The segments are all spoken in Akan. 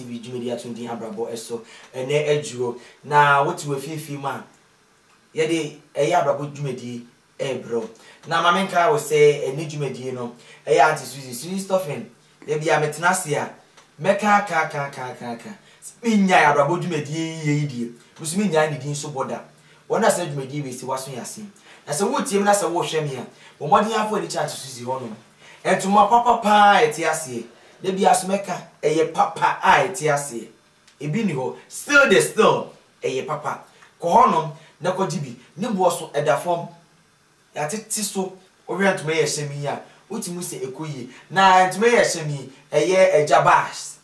TV dwumadi a ɛto din Abrabɔ So Ɛnnɛ Aduro. Na wote w'afiafi mu a, yɛde Ɛyɛ Abrabɔ dwumadi rebrɛ wo. Na ma menkae wo sɛ ɛnnɛ dwumadi no, ɛyɛ Aunty Suzy, Suzy Stuffing. Da biara metena ase a, mɛka aka aka aka aka aka. Sɛ mennyae Abrabɔ dwumadi yiye yi deɛ, me nso mennyae ne din so bɔ da. Wɔn a saa dwumadi wei sɛ wɔaso yɛn ase. Na sɛ woretie me na sɛ worehwɛ me a, bɔ mmɔden ara fa w'ani kyerɛ Aunty Suzy hɔnom. Ntoma papa paa a ɛte aseɛ. Da biara so mɛka ɛyɛ papa a ɛte aseɛ. Ebi nni hɔ. Still de still ɛyɛ papa. Kɔ hɔ nom na kɔgye bi. Ne boɔ so ɛda fam. Yɛatete so. Wohwɛ ntoma yi a ɛhyɛ me yi a, wotumi hu sɛ ɛkɔ yie. Na ntoma yi a ɛhyɛ me yi, ɛyɛ agya bags.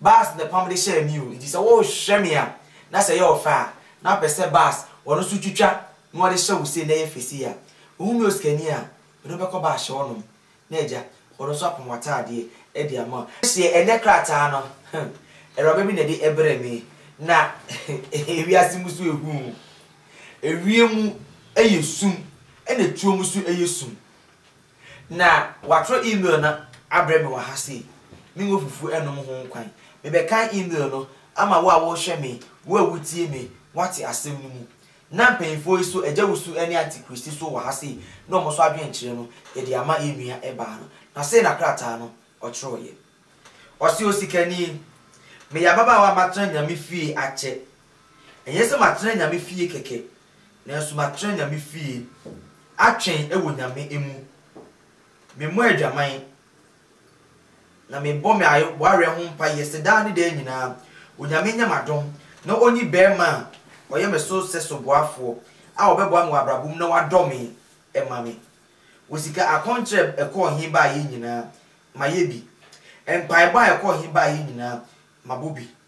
Baas na ɛpam de hyɛɛ me o, enti sɛ worehwɛ me a, na sɛ ɛyɛ ɔfɛ a, na wopɛ sɛ Baas ɔno nso twitwa na ɔde hyɛ wo sei na ɛyɛ fɛ sei a, wohu me osikani a, mede wo bɛkɔ Baas hyɛ hɔnom na agya ɔno nso apam w'ataadeɛ de ama wo. Hyɛ ɛnnɛ krataa no, awuraba bi na ɛde brɛɛ me, na wiase mu so yɛ hu o, ewiem yɛ sum na tuo mu nso yɛ sum, Na wɔatwerɛ email no abrɛ me wɔ ha sei. Me ngo fufuo nnom ho kwan. Mebɛkan email no ama wo a worehwɛ me, wo a wotie me, woate asɛm no mu. Na mpanyinfoɔ yi so, Agya Wusu ne Antikristi so wɔ ha sei, na wɔn nso adwenkyerɛ no, yɛde ama yɛn nua baa no. Na sei na krataa no ɔtwerɛeɛ. Ɔse, Osikani, meyɛ ababaawa a matena Nyame fie akyɛ. Ɛnyɛ sɛ matena Nyame fie kɛkɛ, Nanso matrɛ Nyame fie. Atwɛn wɔ Nyame mu. Me mmɔ adwaman Na me bɔ me awareɛ ho mpaeɛ sɛ daa ne daa nyinaa Onyame nyɛ m'adom na ɔnyi barima a ɔyɛ me so sɛ soboafoɔ a ɔbɛboa me wɔ abrabɔ mu na wadɔ me mma me Wɔ sika akɔnkyerɛ a ɛkɔɔ he baeɛ nyinaa mayɛ bi Mpaebɔ a ɛkɔɔ he baeɛ nyinaa mabɔ bi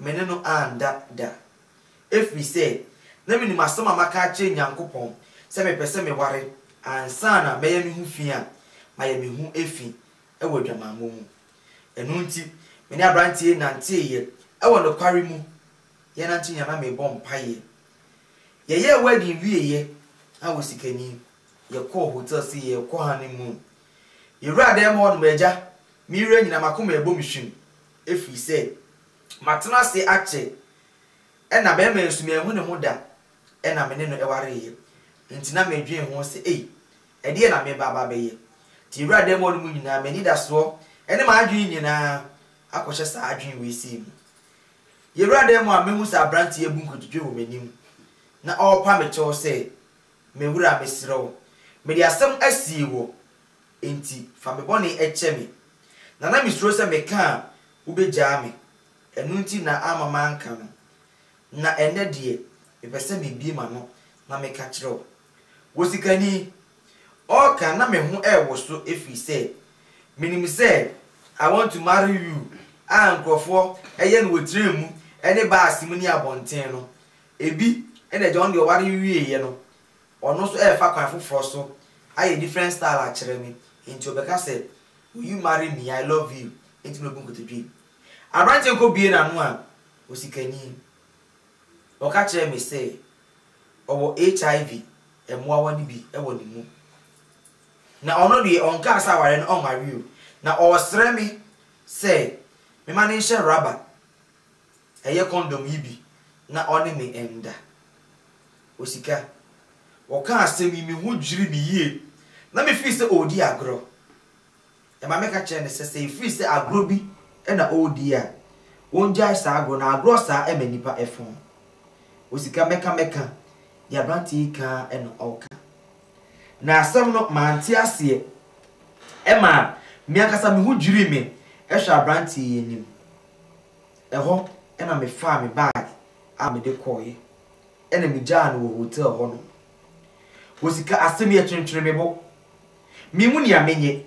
me ne no anda da. Ɛfiri sɛ, na menim asɛm a maka akyerɛ Nyankopɔn sɛ mepɛ sɛ meware ansa na mɛyɛ me ho fi a, mayɛ me ho fi wɔ adwamammɔ mu. Ɛno nti, me ne aberanteɛ yi nanteeɛ wɔ nokware mu, yɛnante nyinaa na mebɔ mpaeɛ. Yɛyɛɛ wedding wieeɛ a wɔ Sikani, yɛkɔɔ hotel sɛ yɛrekɔ honeymoon. Yɛwuraa dan mu hɔ no, m'agya, me werɛ nyinaa, m'akoma rebɔ me hwim. Ɛfiri sɛ matena ase akyɛ, ɛnna barima yi nso manhu ne ho da, ɛnna me ne no wareeɛ. Enti na medwene ho sɛ, 'Ei, ɛdeɛn na mereba aba abɛyɛ? Enti wura dan mu hɔnom nyinaa, m'anidasoɔ ne m'adwene nyinaa akɔhyɛ saa adwene wei sei mu. Yɛwura dan mu a, mehu sɛ aberanteɛ yi abu nkotodwe wɔ m'anim, na ɔrepa me kyɛw sɛ, 'Me wura, mesrɛ wo, mede asɛm asie wɔ Enti fa me bɔne kyɛ me. Na na misuro sɛ meka a, wubegyaa me. Ɛno nti na amma manka no. Na ɛnnɛ deɛ, mepɛ sɛ mibue m'ano na meka kyerɛ wo. Wo sikani! Ɔreka na me ho rewoso ɛfiri sɛ, menim sɛ I want to marry you a nkurɔfoɔ yɛ no wɔ train mu ne baase mu ne abɔnten no, ebi na agya no deɛ ɔware wieeɛ no, Ɔno nso ɛɛfa kwan foforɔ so ayɛ different style akyerɛ me nti ɔbɛka sɛ will you marry me I love you nti na obu nkotodwe. Aberanteɛ no kɔ bue n'ano a osikani ɔka kyerɛɛ me sɛ ɔwɔ HIV mmoawa no bi wɔ ne mu na ɔno deɛ ɔnkaa sɛ awareɛ no ɔnware o na ɔɔsrɛ me sɛ mema no nhyɛ rubber. Ɛyɛ kɔndɔm yi bi na ɔne me nda. Osika. Wɔkaa asɛm yi, me ho dwirii me yie na mefii sɛ ɔredi agorɔ. Ɛma meka kyerɛɛ no sɛ, sɛ ɛfiri sɛ agorɔ bi na ɔredi a, ɔngyae saa agorɔ no, agorɔ saa ɛma nnipa fo. Osika, Mɛka, mɛka, deɛ aberanteɛ yi ka ara na ɔreka. Na asɛm no, mante aseɛ. Ɛmaa me ankasa me ho dwirii me hwɛ aberanteɛ yi anim. Ɛhɔ na mefaa me bag a mede kɔeɛ na megyaa no wɔ hotel hɔnom. Wɔ sika asɛm yi ɛtwentwene me bo. Menhu nea menyɛ.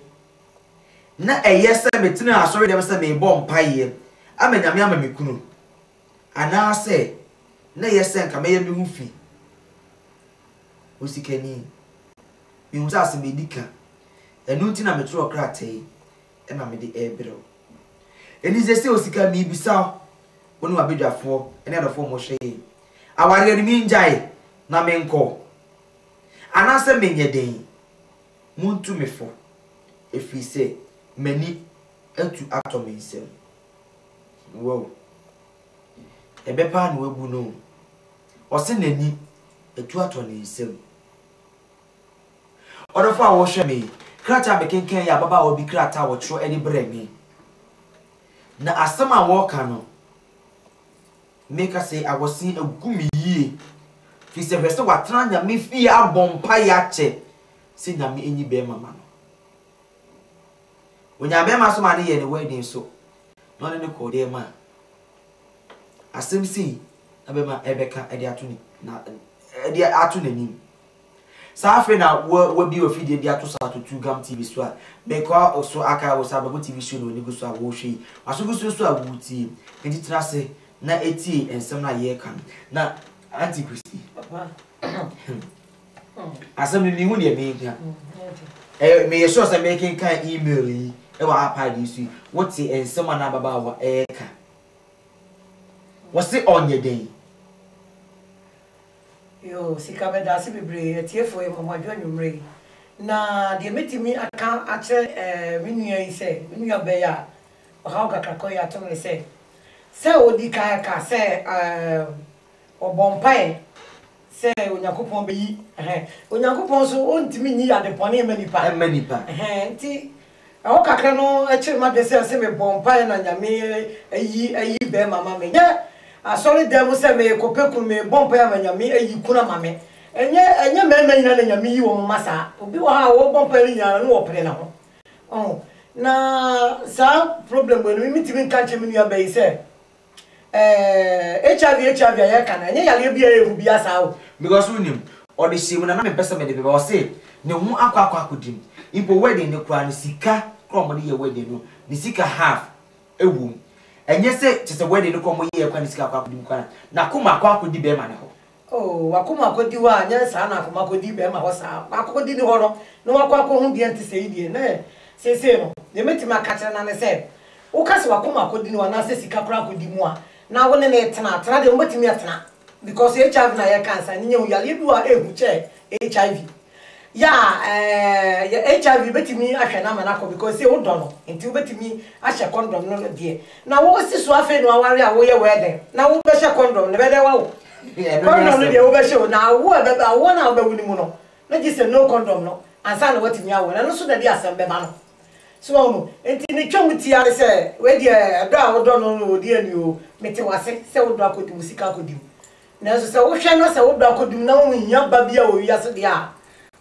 Na ɛyɛ sɛ metenaa asɔredɛm sɛ merebɔ mpaeɛ ama Nyame ama me kunu anaasɛ na ɛyɛ sɛ nka mɛyɛ me ho fi. Osikani, mehu sɛ asɛm a ɛdi ka. Ɛno nti na metwerɛɛ krataa yi. ɛma me de ɛɛbrɛ wo. Ɛni sɛ sɛ osika mii bisa wo, wo ne w'abadwafoɔ ne adɔfoɔ mo hwɛ yɛn awareɛ no mii ngyae na me nkɔ? Anaa sɛ me nyɛ dɛn? Mo ntu me fo, ɛfiri sɛ m'ani atu atɔ me nsam. Wow! Ɛbɛ paa na wabu no o. Ɔse n'ani atu atɔ ne nsam. Ɔdɔfo a wohwɛ me yi, krataa a mekenkan yi yɛ ababaawa bi krataa a ɔkyerɛw de brɛɛ me. Na asɛm a ɔreka no, meka sɛ awɔsen agu me yie, efisɛ hwɛ sɛ watena Nyame fie abɔ mpae akyɛ sɛ Nyame nyi bɛrima mma no. Onyaa bɛrima nso maa no yɛɛ ne wedding nso, na ɔne no kɔɔ dɛm a asɛm sei na bɛrima rebɛka de ato ne na de ato n'anim. Saa afei na wa wabie ofidie bi ato so ato tu gam TV so a mekɔ so akae wo sɛ abɛbo TV show na w'ani gu so a worehwɛ yi. W'aso gu so nso a woretie. Enti tena ase na tie nsɛm no a yɛreka no. Na Auntie Christy, asɛm no menhu deɛ meka. Ɛyɛ meyɛ sure sɛ mekenkan email yi wɔ iPad yi so yi, wote nsɛm a na ababaawa reka. Wɔse ɔnyɛ dɛn? Yoo sika meda ase bebree atiefo yɛmɔmɔadwo anwumerɛ yi na deɛ mɛtumi aka akyerɛ me nua yi sɛ me nua bɛɛ a ɔhaw kakrakɔ yi ato no ne sɛ sɛ ɔdi kan aka sɛ ɔbɔ mpaeɛ sɛ Onyankopɔn bɛyi Onyankopɔn nso ɔntumi nyi adebɔne mma nipa nti Ɛhɔ kakra no kyere m'adwene sɛ ɛsɛ mebɔ mpaeɛ na Nyame ayi ayi bɛɛma ama me. Nyɛ asɔre dan mu sɛ meekɔ pɛ kunu, mebɔ mpaeɛ ama Nyame ayi kunu ama me. Ɛnyɛ ɛnyɛ mmarima nyinaa na Nyame yi wɔn ma saa. Obi wɔ hɔ a ɔbɔ mpaeɛ no nyinaa no ne ɔpene ne ho. Wahu? Na saa problem wei no, me mentumi nka nkyerɛ me nua baa yi sɛ Ɛɛɛ HIV HIV a yɛka no ɛnyɛ yareɛ bi a ɛyɛ hu biaa saa o. Because wonim ɔde hyɛɛ mu na na mempɛ sɛ mede bɛba ɔse ne ho akɔ akɔ akɔdi mu mpo wedding no koraa no sika koraa a wɔde yɛ wedding no ne sika half ɛwɔ mu ɛnyɛ sɛ kyerɛ sɛ wedding no koraa a wɔyɛɛ koraa ne sika akɔ akɔdi mu koraa no n'akoma akɔ akɔdi bɛɛma no hɔ. Oh, w'akoma akɔdi hɔ a, nyɛ saa na akoma kɔdi bɛrima hɔ saa. Akokɔdi nni hɔ no, na wakɔ akɔhu deɛ nte sɛi deɛ, na ɛ, seesei no, deɛ mɛtumi aka akyerɛ no ara ne sɛ, woka sɛ w'akoma akɔdi no anaasɛ sika koraa akɔdi mu a, na wo ne no retena a, tena deɛ mobɛtumi atena, because HIV na yɛreka ansa, nyinya ho yareɛ bi wɔ hɔ a ɛhu kyɛ HIV. Yeah eh yɛ HIV bɛtumi ahwɛ no ama no akɔ because sei wodɔ no nti wobɛtumi ahyɛ condom no no deɛ na wo si so afei na waware a woyɛ wedding na wo bɛhyɛ condom no bɛdɛ wawo condom no deɛ wobɛhyɛ o na awoɔ ɛbɛbɛ awoɔ no a wobɛwo no mu no na gye sɛ no condom no ansa na watumi awo na ɛno so na ɛde asɛm bɛba no so wahunu nti ne twa mu tia ne sɛ wei deɛ ɛdɔ a wodɔ no no deɛ ni o mete wase sɛ wodɔ akɔdi wo sika akɔdi o Nanso sɛ wohwɛ na sɛ wo dɔ akodum na wo hia ba bi a ɔwɔ wiase deɛ a,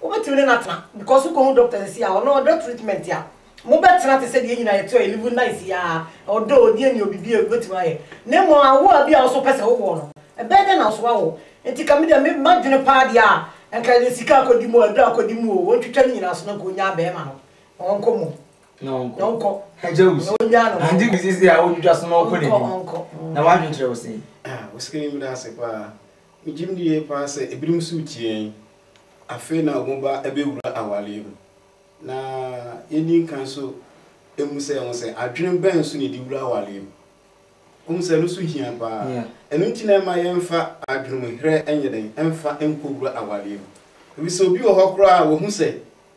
wobɛtumi ne no atena because wokɔhu dɔkta nsi a ɔno ɔdɔ treatment a, mobɛtena te sɛ deɛ yɛn nyinaa yɛte hɔ yɛ live nice yi ara, ɔdɔ, ɔni ani, ɔbi biara wobɛtumi ayɛ. Na mmom awoɔ a bi a wo nso wopɛ sɛ wowoɔ no, ɛbɛyɛ dɛn na wo nso woawo? Nti ka me deɛ me m'adwene paa deɛ a, nka ɛyɛ sika akɔdi mu o, aduro akɔdi mu o, wɔntwitwa ne nyinaa so na nka ɔnyaa bɛɛma no na wɔnkɔ mu. na ɔnkɔ na ɔnkɔ agya wusu na ɔnya no ante bi sisi a wodwidwa so na ɔkɔ n'anim ɔnkɔ na wadwene kyerɛ wo sɛn ah wosikani meda ase paa megyim di yie paa sɛ ebinom so tiɛn afei na wɔn ba ɛbɛwura awareɛ mu na yɛni nkan so emu sɛ wɔn sɛ adwene bɛn so na yɛde wura awareɛ mu wɔn sɛ ɛno so hia paa ɛno nti na ɛma yɛmfa adwene mu herɛ ɛnyɛ dɛn ɛmfa nkɔ wura awareɛ mu ebi sɛ obi wɔ hɔ koraa wɔhu sɛ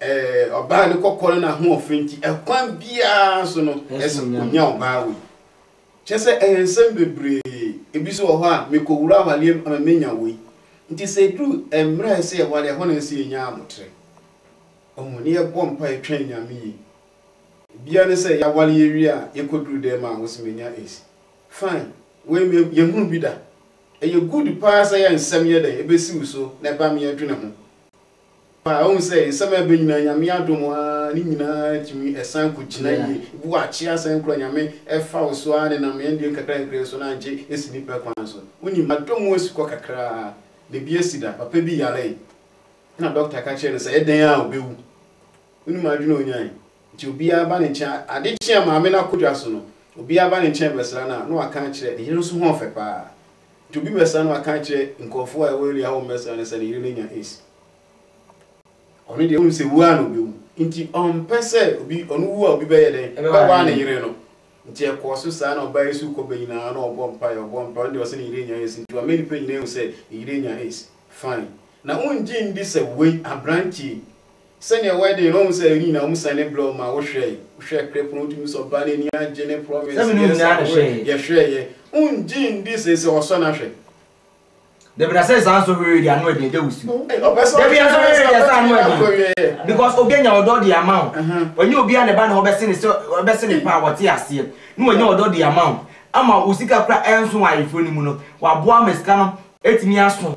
Ɔbaa ne kɔkɔre na ahoɔfɛ nti ɛkwan biara so no ɛsɛ onya ɔbaa wei kyɛ sɛ ɛyɛ nsɛm bebree ebi so wɔ hɔ a mekɔwura awaleɛ mu ama menya wei nti sɛ duru mmerɛ a ɛsɛ yɛ wale ɛhɔ na ɛsɛ yɛnya abotere ɔho ne yɛbɔ mpa yɛtwɛn nyame yi bia ne sɛ yɛawale yɛwie a yɛkɔduru dɛm a wɔsɛ menya esi fine wei me yɛhunu bi da ɛyɛ good paa sɛ yɛ nsɛm yɛ dɛn ɛbɛsiw so na ɛba me yɛdwene ho Paa, wohu sɛ nsɛm a ɛba nyinaa, Nyame adom aa, ne nyinaa tumi ɛsan kɔ gyina yie. Ebi wɔ a akyee asan kura, Nyame ɛfa wo so aa nenam yɛn deɛ nkakra nkakra yi so na angye esi nnipa kwan so. Wonim, adom mu asi kɔ kakra aa, na ebi asi da. Papa bi yaree, ɛna dɔkta ka kyerɛɛ no sɛ ɛdɛn aa ɔbɛwu. Wonim adwene a ɔnyae? Nti obiara ba ne nkyɛn, ade kye a maame no akɔ dwa so no, obiara ba ne nkyɛn bɛsra no a, na waka akyerɛ, ne yere nso ho ɔfɛ paa. Nti obi bɛsan no aka akyerɛ nkurɔfoɔ a ɛwɔ area hɔ mmɛsra no sɛ ne yere no anya aids. Ɔno deɛ wonim sɛ wu ara na ɔbɛwu. Nti ɔmpɛ sɛ obi, ɔno wu a obi bɛyɛ dɛn? Bɛwaa ne yere no. Nti ɛkɔɔ so saa na ɔbaa yɛ sukuukɔ bɛ nyinaa na ɔbɔ mpaeɛ, ɔbɔ mpaeɛ, ɔno deɛ ɔse ne yere anya aids. Nti wama nnipa nyinaa ahu sɛ ne yere anya aids. Fine. Na wongye ndi sɛ wei, aberanteɛ yi, Sɛnea wedding no wɔn sɛ yɛn nyinaa wɔn sɛn ne blɔ ma wo hwɛ yi wo hwɛ krɛ pono tumi sɔ ɔbaa no ani agye ne promise yes I will yɛ hwɛ yɛ wɔn gye ndi sɛ sɛ ɔsɔ na hwɛ. Dabi na sɛ saa nso hwɛ yɛ di ano ɛdi ɛdɛ wusu. Ɔpɛ sɛ ɔhwɛ yɛ sɛ ɔbɛ tumi akɔ yɛ yɛ. Because obi anya ɔdɔ di ama wo wɔnyɛ obi a na ɛba ne hɔ bɛsi ne sɛ ɔbɛsi ne paa wɔte aseɛ ne wɔnya ɔdɔ di ama wo ama wo sika kura ɛnso wɔ ayeforo no mu no waboa ama sika no ɛtumi aso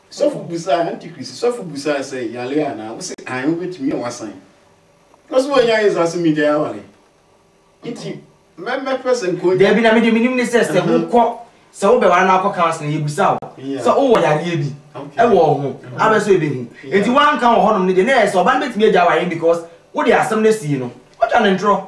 Sɔfo bisaa, Antikristo sɔfo bisaa sɛ, Yare anaa? Wose, Aane, wobɛtumi a woasan. Na so woanya Yesu asom yi dɛn aware? Nti, mɛ, mɛpɛ sɛ nka onya. Daabi, na me deɛ menim ne sɛ, sɛ wokɔ, sɛ wobɛware na akɔ Counseling no, yɛbusa wo sɛ wowɔ yareɛ bi wɔ wo ho, abɛ so yɛbɛhu. Nti woanka wɔ hɔnom no deɛ, na ɛyɛ sɛ ɔba no bɛtumi agya aware no because wode asɛm no asi no. Watwa no ntorɔ.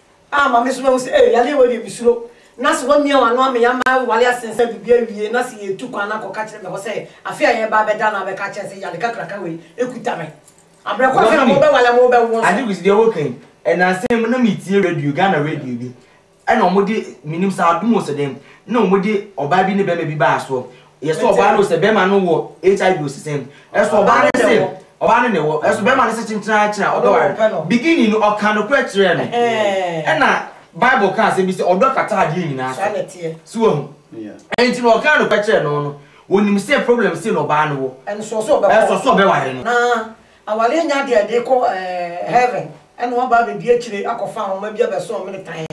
a ama me so mahu sɛ ei yareɛ wei deɛ mesuro na sɛ wamia w'ano ama yɛama aware asen sɛ biribi awie na sɛ yɛretu kwan no akɔka kyerɛ me hɔ sɛ afe a yɛreba abɛda no abɛka akyerɛ sɛ yare kakraka wei ɛkuta me abrɛ kɔ afe a mobɛware a mobɛwo nso. Ade kwesi deɛ woka yi ɛnansa yi na metie radio Ghana radio bi ɛna wɔde menim sɛ adom o sɛ dɛn na wɔde ɔbaa bi ne bɛrima bi baa soɔ Yɛ sɛ ɔbaa no sɛ bɛrima no wɔ HIV osisɛm. Ɛso ɔbaa no se ɔbaa no na ɛwɔ. Ɛso bɛrima no se kyenkyen ara kyerɛ a ɔbɛware no. Beginning no ɔkaa nokorɛ kyerɛɛ no. Ɛna Bible kaa asɛm bi sɛ ɔdɔ kata adeɛ nyinaa so. So wahu? Ɛnti no ɔkaa nokorɛ kyerɛɛ no no. Ɔnim sɛ problem sei na ɔbaa no wɔ. Ɛnso so ɔbɛkɔ. Ɛso so ɔbɛware no. Na awareɛ nyɛ adeɛ a ɛde kɔ heaven. Ɛna waba abɛdi akyire akɔfa ahoma bi abɛsɔ ɔmene tann.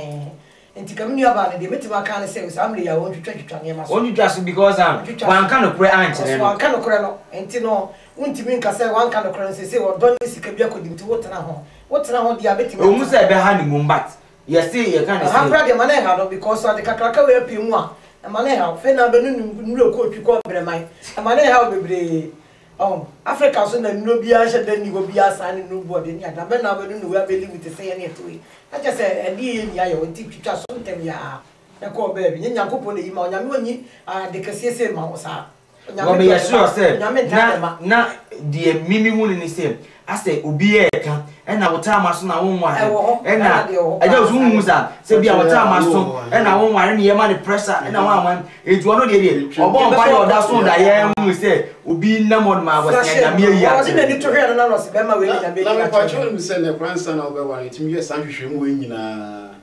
Nti ka me nuabaa no deɛ mɛtumi aka ne sɛ saa mmerɛ yi a ɔntwitwa twitwa nneɛma so. Ɔntwitwa so because an wanka nokorɛ ankyerɛ no. Ɔso wanka nokorɛ no nti no wontumi nka sɛ wanka nokorɛ no seesei ɔdɔ ne sika bi akɔdi nti wo tena ho wo tena ho deɛ a bɛtumi atena ho. Ɛwɔ mu sɛ ɛbɛha no mmom but yɛse yɛka ne sɛ. Aha koraa deɛ ma no nha no because ade kakraka wei apue mu a ɛma no nha wo fei na bɛno ne nwura kɔɔtwi kɔɔ brɛman ɛma no nha wo bebree. Oh, Africa so na nnuro biara nhyɛ da nni hɔ bi a saa ne nnuro bu ɔde ne ada. Bɛn na wobɛnu na woabɛ live te sɛ yɛne ɛtoe. Na kyerɛ sɛ ɛdeɛ yɛ nni ayɛ wo nti twitwa so ntɛm yaa na kɔ baabi. Nyɛ Nyankopɔn na ɛyi ma wo. Nyame ɔnyi ade kɛseɛ sei ma wo saa. Onyame dɔ ne mma. Onyame ntaa ne mma. Na deɛ me me hu no ne sɛ. Asɛ obi ɛɛka ɛna wo taa maso na wo nware ɛna ɛgya osu nhu sa sɛ bia wo taa maso ɛna wo nware ne yɛma ne pressure ɛna wo anwa enti ɔno deɛ deɛ ɔbɔ mpa yɛ ɔda so da yɛ nhu sɛ obi nam hɔ nom abɔsea nyame ayi akyerɛ no. Na na mepa kyɛw nim sɛ nɛ kora nsa na wobɛware tumi yɛ saa nhwehwɛ mu wei nyinaa.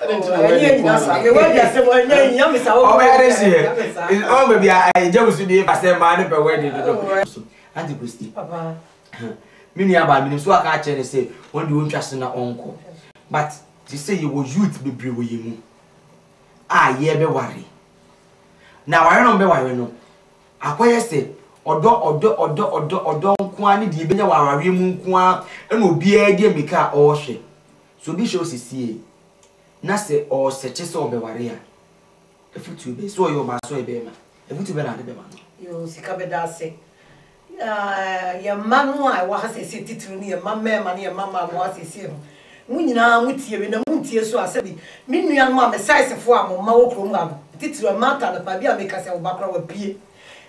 Oh, ɛni yɛ nyina saa. Mɛ wɛdi asɛm wɔ ɛnyɛ yi yami saa. Ɔmɛ yɛ de si yɛ. Ɔmɛ bɛ bi a ɛyɛ jɛmu si bi basɛ maa ne bɛ wɛdi dodo. So anti kristi. Papa. Mi ni aba mi ni so aka akyɛ ne se wɔn de wɔn twa se na ɔnkɔ. But te sɛ yɛ wɔ youth bebree wɔ yɛ mu a yɛ bɛ ware. Na ware no bɛ ware no akɔyɛ sɛ ɔdɔ ɔdɔ ɔdɔ ɔdɔ ɔdɔ nkoa ne deɛ bɛnya wɔ awareɛ mu nkoa ɛna obiara deɛ mika a ɔrehwɛ. Sɛ obi hyɛ wo sesie na sɛ ɔresɛkye sɛ ɔbɛware a, afutuo bɛn, sɛ ɔyɛ ɔbaa sɛ ɔyɛ bɛɛma, afutuo bɛn na wode bɛma no? Yoo sika bɛda ase. Na yɛn mma no a ɛwɔ ha seesei titiriw ne yɛn mma mmarima ne yɛn mma mmaa a wɔwɔ ha seesei no, mo nyinaa motie me na muntie so a sɛbi me nuanom a me saesefo a mo mma wɔ kurom ha no, titiriw Martha no, baabi a meka sɛ wo ba koraa wapue.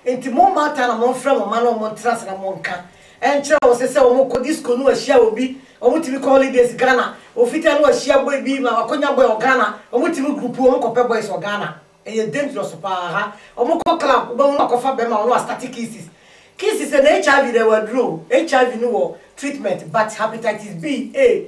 Enti mo mmaataa na monfrɛ mo mma na wɔn ntena ase na monka nkyerɛ wɔn sɛ sɛ wɔn kɔ disco na wɔahyia obi, wɔn tumi kɔ holidays Ghana, ofitaa na wɔahyia boy bi ma wɔakonya boy wɔ Ghana, wɔn tumi group wɔn kɔpɛ boys wɔ Ghana, ɛyɛ dangerous paa ha, wɔn kɔ club wobɛhu no akɔfa bɛrima wɔn astarte kisses, kisses no HIV na ɛwɔ aduro o, HIV no wɔ treatment but hepatitis B, A,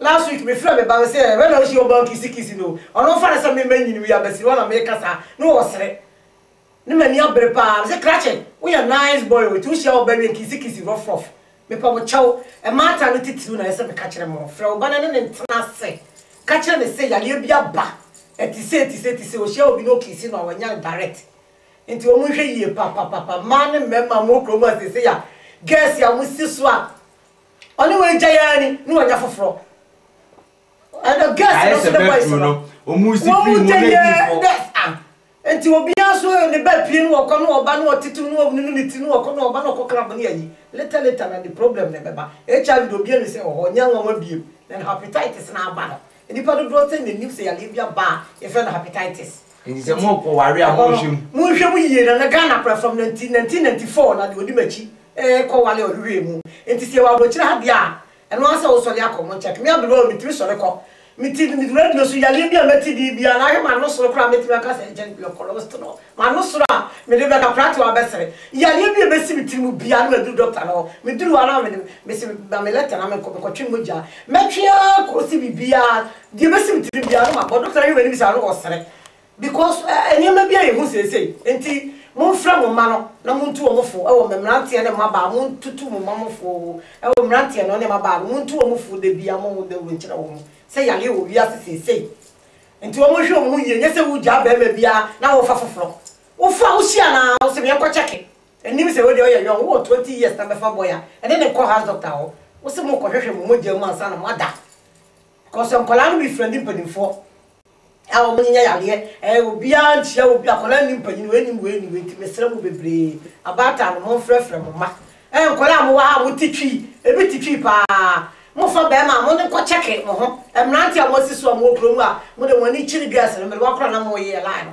Last week me frɛ me ba me se ɛ wɛn na wohyia ɔbaa kisi kisi no ɔno ɔfa no sɛ me ma nyini wia bɛsiri hɔ na me ka saa na wɔ sere ne m'ani abere paa me se krakye wo yɛ nice boy o nti wo hyia ɔbaa wia kisi kisi rɔf rɔf me pɛ mo kyɛw ɛmaata no titiriw na ɛsɛ me ka kyerɛ mo frɛ wo ba na ɛne ne ntena ase ka kyerɛ ne se yareɛ bi aba ɛte sei te sei te sei ohyia obi na okisi no a wanya no direct nti wɔn nhwɛ yie papapapa mmaa ne mmarima mo wɔ kuro mu a seesei a girls a wɔn si so a Ɔne wo agyae ara ni na wanya foforɔ. Ɛna girls Ayɛ no sɛ nso ne boys bɛturu no. no, wɔn si Wɔn pii mu wɔn gyɛnyɛ adi fɔ. girls ah. Nti obiara nso ne ba pie na ɔkɔ na ɔba na ɔtete mu na ɔnunu ne ti na ɔkɔ na ɔba na ɔkɔ club ne ayi. Later later na ne problem no ɛbɛba. HIV deɛ obiara nim sɛ ɛwɔ hɔ, ɛnyɛ nwanwa biom. Na ne hepatitis no aba no, nnipa dodoɔ sɛn na nim sɛ yareɛ bi aba a yɛfrɛ no hepatitis? Nti sɛ mo kɔ ware a mo nhwɛ mu. Mo nhwɛ mu yie na na Ghana pra fam na nti nineteen ninety four na deɛ ɔdi m'akyi ɛɛ kɔ ware ɔhwehwɛɛ mu nti sɛ yɛ wɔ abrokyire ha deɛ a ɛno ara sɛ wo sɔre akɔ mo nkyɛn me aberewa o me tumi sɔre kɔ me ti me radio so yareɛ bi a mɛte deɛ biara na ahwɛ m'ano soro koraa mɛtumi aka sɛ ɛgya bi ɔkɔ roast no m'ano soro a mede bɛka koraa te wabɛsere yareɛ bi a ɛbɛsi me tiri mu biara na maduru doctor no hɔ meduru hɔ na mede me se ma me letter na menkɔ mekɔtwe mogya mɛtwe ara kɔ si biribiara Deɛ ɛbɛsi me tirim biara no mabɔ doctor ahwɛ m'anim saa no ɔsere because nneɛma bi a yɛhu seesei nti momfrɛ mo mma no na montu wɔn fo wɔ me mmeranteɛ ne mmabaa montutu mo mma mo fo wɔ mmeranteɛ no ne mmabaa no montu wɔn fo dabia mo dawuro nkyerɛ wɔn sɛ yareɛ wɔ wiase seesei nti wɔn nhwɛ wɔn ho yie nyɛ sɛ wogyaa barima biara na wofa foforɔ wofa a wohyia no a wosɛ meɛnkɔ kyɛke ɛnim sɛ wodeɛ ɔyɛ yɔn wowɔ 20 years na bɛfa boy a ɛne ne nkɔ house doctor hɔ wosɛ mokɔhwehwɛ mo mogya mu ansa na moada Because nkwadaa no bi frɛndi mpaninfoɔ a wɔn nyanya yareɛ ɛɛ obiara nkyia obi akwadaa nni mpanin wei nim wei nim wei nti mesrɛ mo bebree abaatan no monfrɛfrɛ mo mma ɛɛ nkwadaa a mowɔ ha a mote twii ebi te twii paa mofa bɛrima a mode nkɔ kyɛke mo ho mmeranteɛ a moasi so a mowɔ kurom a mode mo ani kyere girls no mede wɔn akora na moyɛ line no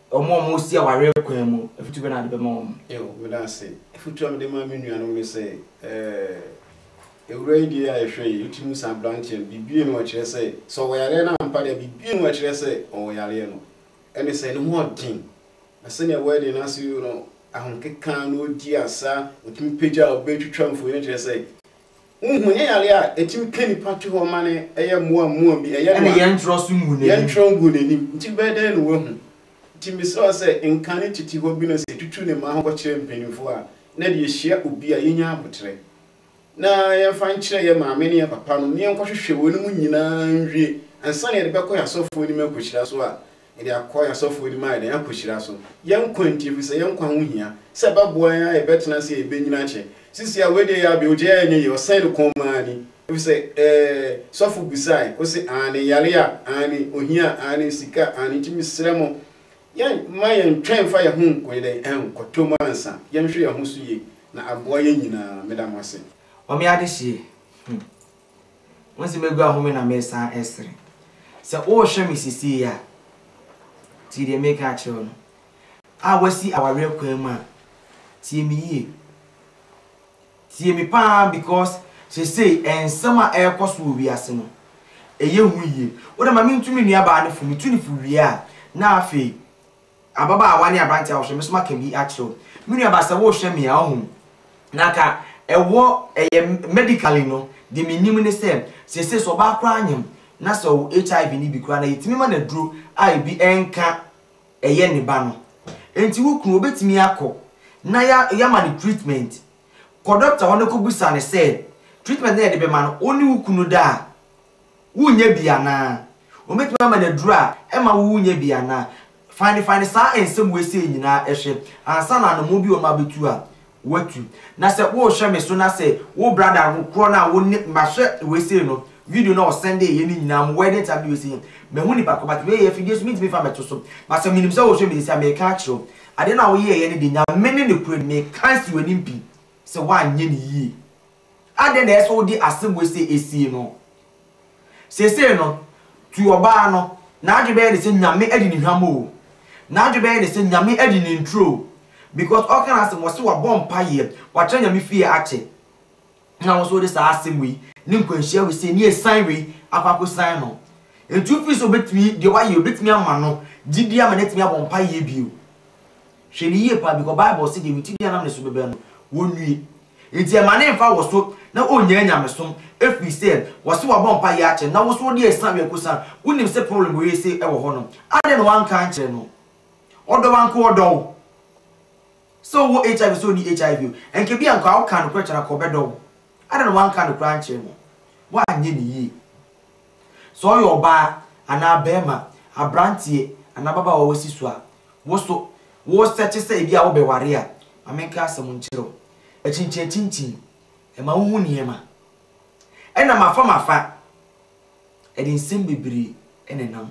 Wɔn a wɔresi awareɛ kwan mu, afotuo bɛn na wode bɛma wɔn? Eo, meda ase. Afotuo a mede ma me nuanom ne sɛ, eh, awura yi deɛ a yɛhwɛ yi, wotumi hu sɛ aberanteɛ no, biribi nni hɔ a ɛkyerɛ sɛ, sɛ ɔwɔ yareɛ no ampa deɛ a, biribi nni hɔ a ɛkyerɛ sɛ ɔwɔ yareɛ no. Ɛne sɛ, ne ho yɛ den, na sɛdeɛ wedding no ase no, ahokeka na ɔredi asa, ɔtumi pagya ɔbaa yi twitwa mfonin no kyerɛ sɛ, Wonhu, ɛnyɛ yare a ɛtumi pia nnipa to hɔ ma no yɛ mmoa mmoa bi, ɛyɛ no a yɛntwerɛ so ngu n'anim, yɛntwerɛ ngu n'anim, nti bɛyɛ dɛn na wahu? Nti mesrɛ wo sɛ nka ne tete hɔ bi no sɛ tutu ne mmaa ho kɔkyerɛ mpaninfoɔ a na ɛde yɛhyia obi a yɛnya aboterɛ na yɛmfa nkyerɛ yɛ maame ne yɛ papa nom na yɛnkɔhwehwɛ wei nom nyinaa nwie ansa na yɛde bɛkɔ yɛ asɔfoɔ anim akɔhyira so a Yɛde akɔ yɛn asɔfo anim ayɛ dɛn? Akohyira so. Yɛn nkwa nti, ɛfiri sɛ yɛn nkwa ho hia, sɛ ɛbɛboa yɛn ara a yɛbɛtena ase a yɛbɛnyini akyɛ. Sisi a, wei deɛ ɛyɛ a bɛ ogya yi a ɛnyɛ yie, ɔsɛn ne kɔn mu aane, ɛfiri sɛ, ɛɛ, sɔfo bisaeɛ, ɔse aane, yareɛ a, aane, ohia a, aane, sika a, aane, nti mesrɛ mo, yɛn, mma yɛn ntwɛn mfa yɛn ho nkɔyɛ dɛn? Nkɔtɔ mu ansa, yɛnhwɛ yɛn ho so yie, na aboa yɛn nyinaa. Meda mo ase. Ɔme adehyeɛ, hmm, Wohu sɛ magu ahome na meresan resere. Sɛ worehwɛ me seesei a, tie deɛ mereka akyerɛ wo no. A Woasi awareɛ kwan mu a, tie me yie. Tie me pa ara because seesei nsɛm a ɛrekɔ so wɔ wiase no, ɛyɛ hu yie. Wo deɛ ma mentu me nuabaa no fo, metu no fo wie a, na afei Ababaawa ne aberanteɛ a wohwɛ me so maka bi akyerɛ wo. Me nua baa sɛ wohwɛ me a wohu na anka ɛwɔ ɛyɛ medically no de menim ne sɛ seesei sɛ ɔbaa koraa nyem na sɛ ɔwɔ HIV no bi koraa na yɛtumi ma no aduro a ebi nka ɛyɛ ne ba no nti wo kunu ɔbɛtumi akɔ na yɛama no treatment kɔ doctor hɔ na kɔbisa no sɛ treatment na yɛde bɛma no wo ne wo kunu da a Wunnya bi anaa? Wɔbɛtumi ama no aduru a ɛmma wunnya bi anaa? Fa ne fa ne saa nsɛm weisei nyinaa hwɛ ansa na anomo bi wɔ ma bɛtu a woatu. Na sɛ worehwɛ me so na sɛ wo brada no korɔ no a wo ne mahwɛ weisei no video no a ɔsɛndee yɛ no nyinaa mo wedding time ne weisei mahu nipa korɔ but wei yɛ afidie so mentumi mfa mɛto so but sɛ menim sɛ worehwɛ me nti a meka akyerɛ wo adeɛ no a woyɛɛyɛ no deɛ Nyame ne nokorɛ ni meka asi w'anim pi sɛ woanyɛ no yie Adɛn na ɛsɛ sɛ wode asɛm sɛ esie no? Seesei no, tu ɔbaa no, n'adwene bɛyɛ ne sɛ Nyame adi ne hwam o, n'adwene bɛyɛ ne sɛ Nyame adi ne nturo o, because ɔka n'asɛm, ɔse wabɔ mpaeɛ, wakyerɛ Nyame fie akyɛ, na wo nso wode saa asɛm wei, ne nkwanhyia wei sei, ne asiane wei akɔ akɔsiane no. Nti wo feel sɛ obɛtumi, deɛ wayɛ, obɛtumi ama no gyidie ama no atumi abɔ mpaeɛ bio? Hwɛ no yie paa bikɔ bible se deɛ witi bia nam ne so bɛbɛ no wɔnue nti ɛma ne nfa wɔ so na ɔnnya anyamesom ɛfiri sɛ wɔ se wabɔ mpa yɛ akyɛ na wo so wode ɛsa wɛ kosa wo nim se problem wei se ɛwɔ hɔ no adɛn na wanka ankyerɛ no ɔdɔ wo anka ɔdɔ wo sɛ ɔwɔ HIV sɛ ɔni HIV o ɛnka bia anka wo ka nokorɛ kyerɛ anka ɔbɛdɔ wo Adɛn na wanka nokorɛ ankyerɛ no? Woanyɛ no yie. Sɛ ɔyɛ ɔbaa anaa barima, aberanteɛ anaa ababaawa a wasi so a, wo nso woresɛkye sɛ ebia wobɛware a, ma menka asɛm nkyerɛ wo. Akyinkyin akyinkyin, ɛma wohu nneɛma. Ɛnna mafa mafa, ɛde nsɛm bebree nenam.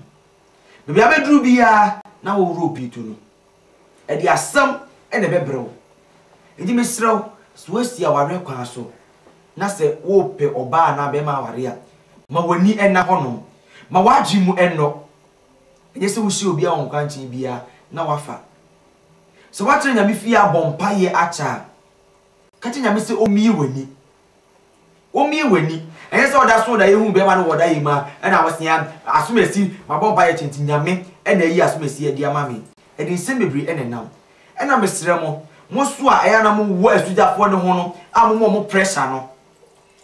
Baabi a abɛduru biara na woworɔ obi to no. Ɛde asɛm na ɛbɛbrɛ wo. Enti mesrɛ wo, sɛ woasi awareɛ kwan so, na sɛ worepɛ ɔbaa anaa barima aware a, ma w'ani nna hɔnom. Ma w'adwene mu nnɔ. Ɛnyɛ sɛ wohyɛ obiara wɔ nkwankyɛn biara na wafa. Sɛ woatena Nyame fie abɔ mpaeɛ akyɛ a, ka kyerɛ Nyame sɛ ɔmmue w'ani Womie w'ani. Ɛnyɛ sɛ ɔda soro na yɛhuu bɛɛma no wɔ ɔda yɛ mu a ɛna wosea asomasi mabɔ mpaeɛ akyɛ nti Nyame ɛna ayi asomasi adi ama me ɛde nsɛm bebree ɛna ɛnam ɛna mesrɛ mo mo nso a ɛyɛ a na mo wɔ asugyafoɔ ne ho no a mo ma ɔmo pressure no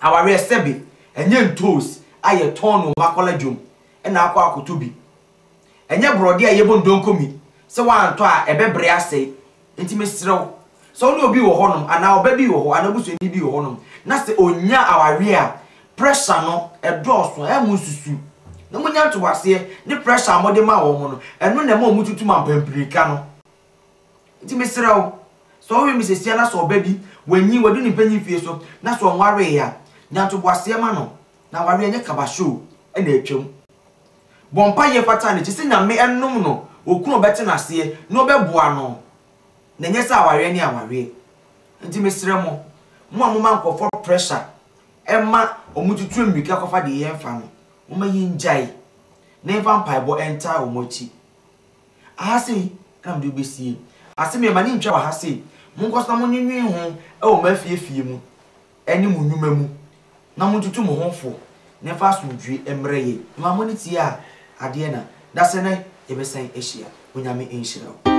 awareɛ sɛbe ɛnyɛ ntoos a yɛtɔn no wɔ makɔla dwom ɛna akɔ akɔtɔ bi Ɛnyɛ borɔdeɛ a yɛbɔ ndonkomi sɛ woantɔ a ɛbɛbre asɛe. Enti mesrɛ wo, sɛ wo ne obi wɔ hɔnom, anaa ɔba bi wɔ hɔ, anaa obusuani bi wɔ hɔnom, na sɛ ɔnyaa awareɛ a pressure no dɔɔso a, monsusu na monya ntoboaseɛ ne pressure a mode ma wɔn no, ɛno na ɛma wɔtutu mampampirika no. Enti mesrɛ wo, sɛ wowe mmisesia na sɛ ɔba bi, wanyin, wadu ne mpanyin fie so, na sɛ ɔnwaree a, nya ntoboaseɛ ma no. Na aware ɛnyɛ kaba show na atwam. Bɔ mpaeɛ fata no kyesɛ Nyame nom no okunu a ɔbɛte naseɛ na ɔbɛboa no na ɛnyɛ sɛ awareɛ ne awareɛ. Nti mesrɛ mo, mo a moma nkorɔfoɔ pressure ɛma ɔmo tutu ammirika kɔfa deɛ yɛmfa no, moma yɛngyae na yɛmfa mpaebɔ ntaa ɔmo akyi. Aha sei na mede wobɛsie. Asɛm yi mma ne ntwa wɔ ha sei, monkɔ so na monwenwen ho wɔ mo afie afie mu ne mo nnwuma mu, na montutu mo ho fo na ɛmfa asomdwoe mmrɛ yɛn. Mma mo ani tie adeɛ na dasɛ na yɛbɛsan ahyia. Onyame nhyira wo.